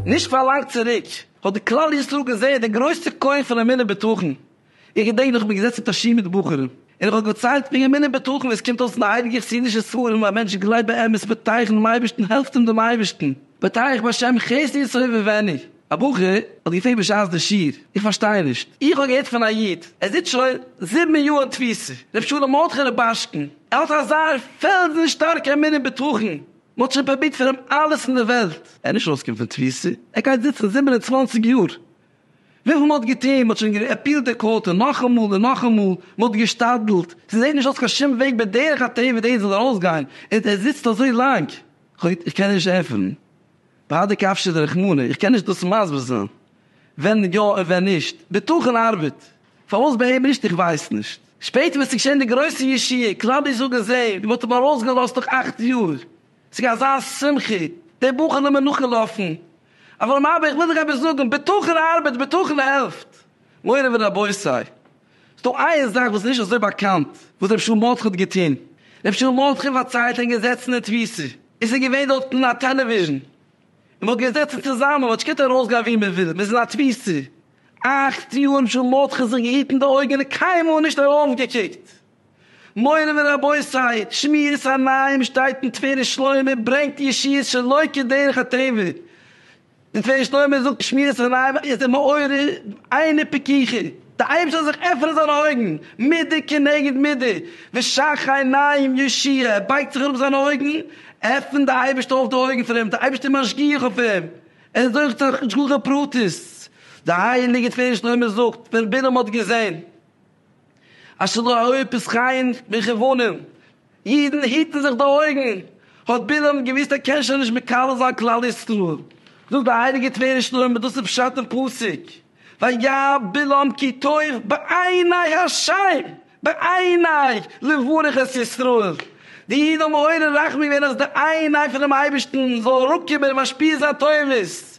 נישט פאר לאנג צוריק האט די כלל ישראל געזעהן די גרויסע כח פון אמונה בטחון, איך געדענק נאך איך בין געזעצן מיט א שיעור מיט בחורים און איך האב געציילט ווי אמונה בטחון עס קומט אויס אין די הייליגע חסידישע ספרים אז א מענטש גלייבט באמת מיט טייך אינעם אייבערשטן העלפט אים דעם אייבערשטן, בעט אייך בשם חסד ישראל ובעניו, א בחור האט געפרעגט בשעת די שיעור, איך פארשטיי נישט, איך האב געהערט פון א איד, ער זיצט שוין זיבן יאר אין תפיסה, ר' שלום מרדכי רובאשקין, ער האט אזא פעלזן שטארקע אמונה און בטחון, מען האט שוין פרובירט פאר אים אלעס אין די וועלט, ער איז נישט ארויסגעקומען פון תפיסה, ער גייט זיצן זיבן און צוואַנציק יאר, וויפיל מען האט געטון, מען האט שוין געפיעלט די קאורט און נאכאמאל און נאכאמאל, מען האט געשתדלט, ס'זעט נישט אויס קיין שום וועג בדרך הטבע דאס זאל ארויסגיין, און ער זיצט אזוי לאנג. גוט, איך קען נישט ענטפערן. בהדה קפשא דרחמנא, איך קען נישט דאס מסביר זיין ווען יא און ווען נישט. בטחון ארבעט. פארוואס ביי אים נישט? איך ווייס נישט. שפעטער ווען ס'איז געשען די גרויסע ישועה, קלאודיוס זאגט דאס אים, מען האט אים ארויסגעלאזט נאך אכט יאר. ס'איז געווען אזא שמחה, די בחור נאר מער נאכגעלאפן. אברהם אבא, איך וויל דיר עפעס זאגן, בטחון ארבעט, בטחון העלפט. מורי ורבותי, ס'איז דא איין זאך וואס איז נישט אזוי באקאנט וואס רבי שאול מרדכי האט געטון. רבי שאול מרדכי האט פארציילט אין געזעצן אין תפיסה. עס איז געווען דארטן א טעלעוויזשן און מ'האט געזעצן צוזאמען, מ'האט נישט געקענט ארויסגיין ווי מ'וויל, מ'איז אין א תפיסה אכט יאר, רבי שאול מרדכי זיך געהיטן די אויגן און קיינמאל נישט ארויפגעקוקט. מורי ורבותי, שמירת עיניים שטייט אין טבע שלמה, ברענגט ישועות שלא כדרך הטבע. די צוויי שטורמער זאגט שמירת הריי וואך איז די מאורע עיני פקיחי, די אייבערשטער זאל זיך עפענען זיינע אויגן, מידה כנגד מידה, ושאך עיניים יושיע, ער בייגט זיך אראפ זיינע אויגן, עפענט די אייבערשטער אויף די אויגן פון אים, די אייבערשטער משגיח אויף אים, ער זוכט זיך השגחה פרטית, די הייליגע צוויי שטורמער זאגט ווען בלעם האט געזען אשר לא היו פסחיים מכוונים, אידן היטן זיך די אויגן, האט בלעם געוואוסט ער קען שוין נישט מקלל זיין כלל ישראל, זאגט די הייליגע טבריה שלמה דאס איז פשט אין פסוק וירא בלעם כי טוב בעיני השי ת בעיני לברך את ישראל, די אידן האבן מעורר רחמים געווען אז די עיני פונעם אייבערשטן זאל אראפקומען און משפיע זיין טובות,